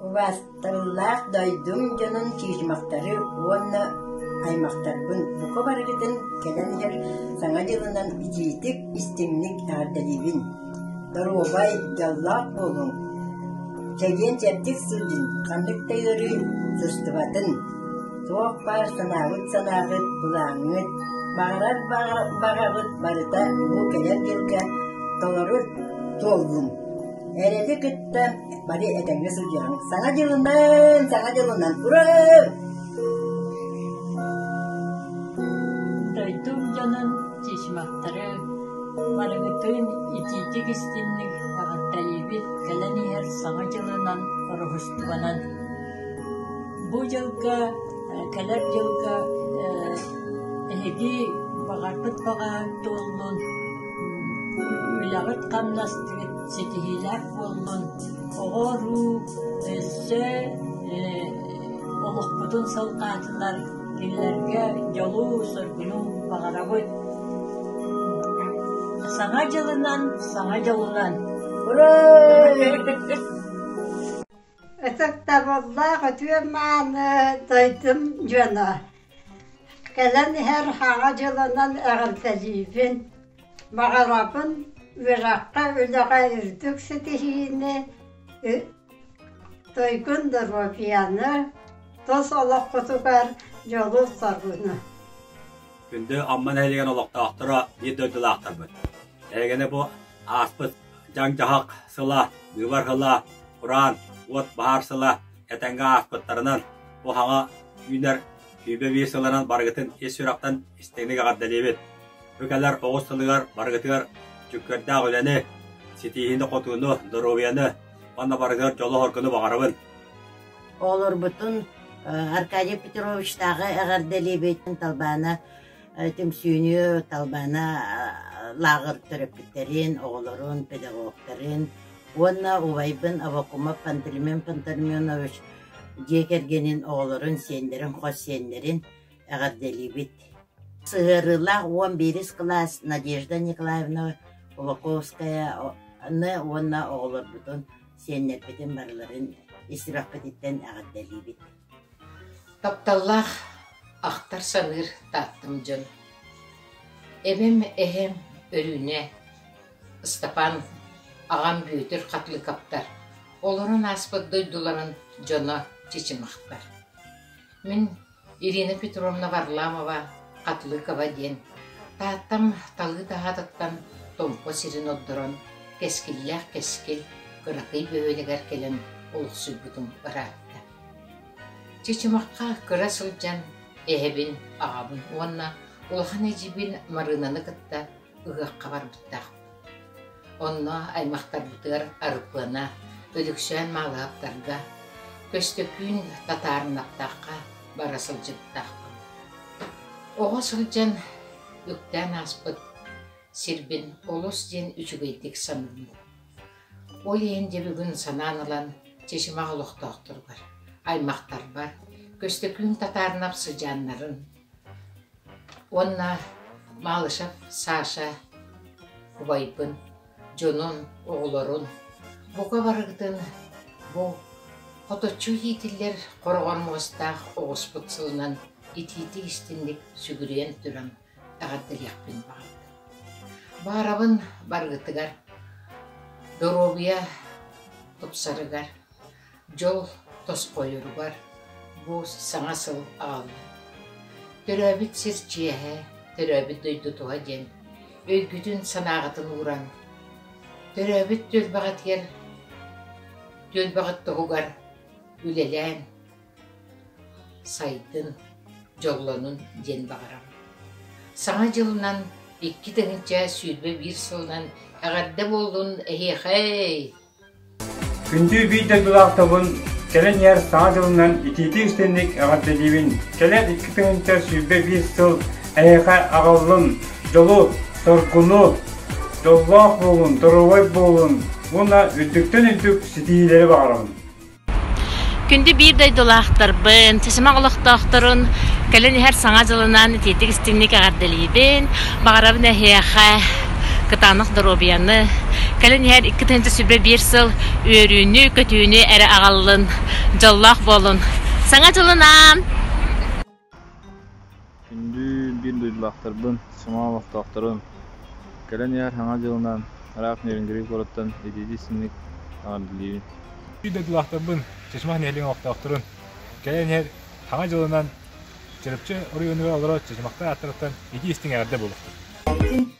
Убаастыллаах дойдум дьонун чыычымахтары уонна аймахтарбын бука барыгытын кэлэн иһэр Саҥа дьылынан итиитик, истиҥник эҕэрдэлиибин! Доруобай, дьоллоох буолуҥ! Чэгиэн-чэбдик сылдьын, ханнык да ыарыы сыстыбатын! Туох баар санаабыт-санааҕыт былааҥҥыт, баҕарар баҕаҕыт барыта Улуу кэлэр дьылга толору туоллун. Эрэти кытта бары этэҥҥэ сылдьыаҥ. Саҥа дьылынан, саҥа дьылынан ура! Дойдум дьонун чычмахтары барыгытын итиитик истинник аҕаттайыыбыт кэлэн иһэр саҥа дьылынан ороһустубанан Бу дьылга, кэлэр дьылга эһиги баҕарбыт баҕаһыт туоллун, үлэҕит-хамнастыгыт ситиһиилээх буоллун, оҕо-уруу өссө олохпутун салҕаатылар, кинилэргэ дьолу, соргуну баҕарабыт. Саҥа дьылынан, саҥа дьылынан! Ура! Ытыктабыллаах үтүө-мааны дойдум дьоно! Кэлэн иһэр Аҕа дьылынан эҕэрдэлиибин! Баҕарабын үөрэххэ-үлэҕэ үрдүк ситиһиини, дойгун доруобуйаны, тус олоххутугар дьолу-соргуну! Күндү Амма нэһилиэгин олохтоохторо биир дойдулаахтарбыт! Эһигини бу ааспыт дьаҥ-дьаһах сыла, быыбар сыла, кураан, уот баһаар сыла этэҥҥэ ааспыттарынан, бу саҥа үүнэр сүүбэ биир сылынан барыгытын ис сүрэхтэн истиҥник эҕэрдэлиибит! Бу кэлэр оҕус сылыгар барыгытыгар дьүккэрдээх үлэни, ситиһиини-хотууну, доруобуйаны уонна барытыгар дьолу-хоргуну баҕарабын! Оҕолорбутун Аркадий Петровичтааҕы эҕэрдэлиибит, талбаана түмсүүнү талбаана лааҕыр төрөппүттэрин, оҕолорун, педагогтарын уонна убайбын Авакумов Пантелеймен Пантелейменович дьиэ кэргэнин, оҕолорун, сиэннэрин, хос сиэннэрин эҕэрдэлиибит. Сыһыарыылаах уон биирис кылаас Надежда Николаевна Уваковскаяны уонна оҕолорбутун, сиэннэрбитин барыларын истибэхпититтэн эҕэрдэлиибит. Тапталлаах ахтар-саныыр Тааттам дьон, эбэм, эһэм Өрүүнэ, Ыстапаан, аҕам Бүөтүр Хатылыкаптар олорон ааспыт дойдуларын дьоно чычымахтар. Мин Ирина Петровна Варламова Хатылыкова диэн Тааттам талыы таһаатыттан Томпо сирин ордорон кэскиллээх кэскил кыракый бөһүөлэгэр кэлэн олохсуйбутум ыраатта. Чычымахха кыра сылдьан эһэбин, аҕабын уонна улахан эдьиийбин Марыынаны кытта ыһыахха барбыттаахпыт. Онно аймахтарбытыгар Арыпыана, Өлөксөөн Маалаһаптарга, Көстөкүүн Татаарынаптаахха бара сылдьыбыттаахпын. Оҕо сылдьан үктээн ааспыт сирбин олус диэн үчүгэйдик саныыбын Ол иһин дьэ бүгүн санаан ылан чычымах олохтоохторугар, аймахтарбар Көстөкүүн Татаарынап сыдьааннарын уонна Малышев Саша убайбын, дьонун, оҕолорун бука барыгытын бу хоточчу иитиллэр хороҕор муостаах оҕуспут сылынан итиитик-истинник сүгүрүйэн туран эҕэрдэлиэхпин баҕарабын. Баарабын барыытыгар, доруобуйа тупсарыгар, дьол тосхойоругар бу саҥа сыл аҕалла. Төрөөбүт сир чиэһэ, төрөөбүт дойду туһа диэн өйгүтүн-санааҕытын ууран, төрөөбүт түөлбэҕитигэр, түөлбэҕит туһугар үлэлээн, Сайдын, дьоллонун диэн баҕарам. Саҥа дьылынан икки тыһыынча сүүрбэ биир сылынан эҕэрдэ буоллун эһиэхэй! Күндүү биир дойдулаахтарбын кэлин иһэр Саҥа дьылынан итиитик-истинник эҕэрдэлиибин! Кэлэр икки тыһыынча сүүрбэ биир сыл эһиэхэ аҕаллым дьолу, соргуну, дьоллоох буолун, доруобай буолун уонна үрдүктэн үрдүк ситиһиилэри баҕарабын! Күндү биир дойдулаахтарбын, сисимэх олохтоохторун кэлин иһэр Саҥа дьылынан итиитик истиҥник эҕэрдэлиибин, баҕарабын эһиэхэ кытаанах доруобуйаны, кэлин иһэр икки тыһыынча сүбэ биир сыл үөрүүнү, көтүүнү эрэ аҕаллын, дьоллоох буолун. Саҥа дьылын аам! Күндү биир дойдулаахтарбын, самаан олохтоохторун! Кэлэн иһэр Саҥа дьылынан араак Нерюнгри куораттан итиитик-синник эҕэрдэлиибин! Биир дойдулаахтарбын, Чачымах нэһилиэгин олохтоохторун! Кэлэн иһэр Саҥа дьылынан Чарапчы оройуонугар олорор Чачымахтар ааттарыттан итии-истиҥ эҕэрдэ буолуохтун!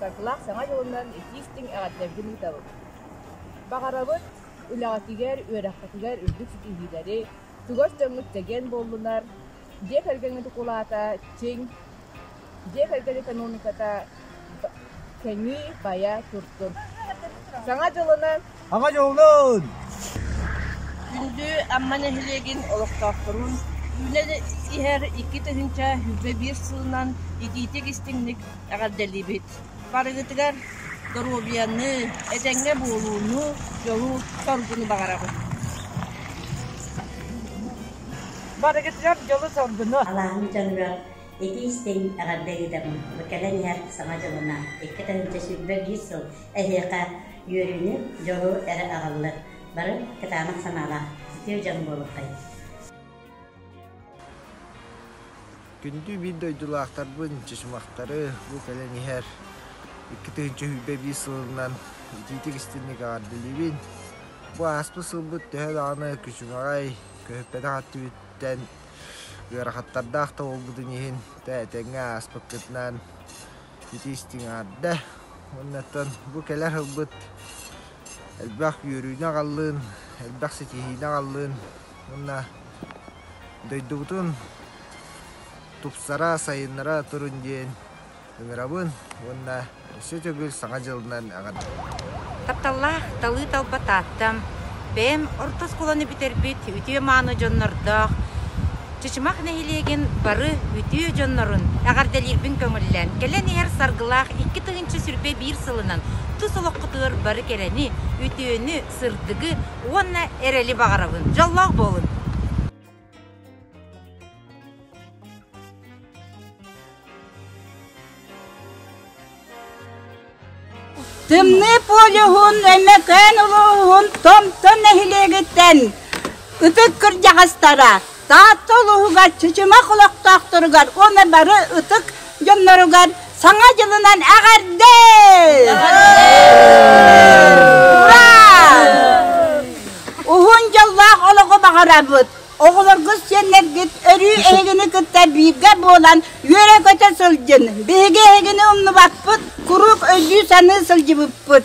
Сакылаах Саҥа дьылынан итии-истиҥ эҕэрдэлэргин ыытабыт! Баҕарабыт үлэҕитигэр, үөрэххитигэр үрдүк ситиһиилэри, чугас дьоҥҥут чэгиэн буоллунар, дьиэ кэргэҥҥит укулаата чиҥ, дьиэ кэргэн экономиката кэҥии, байа турдун! Саҥа дьылынан Күндү Амма нэһилиэгин олохтоохторун Үлэ иһэр икки тыһыынча сүүрбэ биир сылынан итиитик-истиҥник эҕэрдэлиибит! Барыгытыгар доруобуйаны, этэҥҥэ буолууну, дьолу-соргуну баҕарабын! Барыгытыгар дьолу-соргуну! Ити истиҥ эҕэрдэ ыйытабын. Бу кэлэн иһэр Саҥа дьылына, икки тыһыынча сүүрбэ биир сыл эһиэхэ үөрүүнү, дьолу эрэ аҕаллар. Бары кытаанах санаалаах, үтүө дьон буолуоххайт. Күндү биир дойдулаахтарбын, чычымахтары бу кэлэн иһэр икки тыһыынча сүүрбэ биир сылынан итиитик истинник эҕэрдэлиибин. Бу ааспыт сылбыт төһө даҕаны күчүмэҕэй, көһүппэтэх өттүбүттэн Ыарахаттардаах да буолбутун иһин этэҥҥэ ааспыккытынаан ити истиҥ аһарда. Оннуттан бу кэлэр сылбыт элбэх үөрүүнү аҕаллын, элбэх ситиһиини аҕаллын уонна дойдубутун тупсара, сайыннара турун диэн ыҥырабын уонна өссө төгүл Саҥа дьылынан эҕэр! Тапталлаах талыы-талба Тааттам бэйэм орто оскуоланы бүтэрбит үтүө-мааны дьоннордоох Чычымах нэһилиэгин бары үтүө дьоннорун эҕэрдэлиирбин көҥүллээн, кэлэн иһэр Саргылаах икки тыһыынча сүрбэ биир сылынан тус олоххутугар бары кэрэни, үтүөнү, сырдыгы уонна эрэли баҕарабын! Дьоллоох буолун! Тымныы полюһун Өймөкөөн улууһун Томто нэһилиэгиттэн ытык кырдьаҕастара Таатта улууһугар Чычымах олохтоохторугар уонна бары ытык дьонноругар Саҥа дьылынан эҕэрдэ! Ура! Уһун дьыллаах олоҕу баҕарабыт! Оҕолоргут, сиэннэргит өрүү эһигини кытта бииргэ буолан үөрэ-көтө сылдьын! Биһиги эһигини умнубаппыт, куруук өйдүү-саныы сылдьыбыппыт!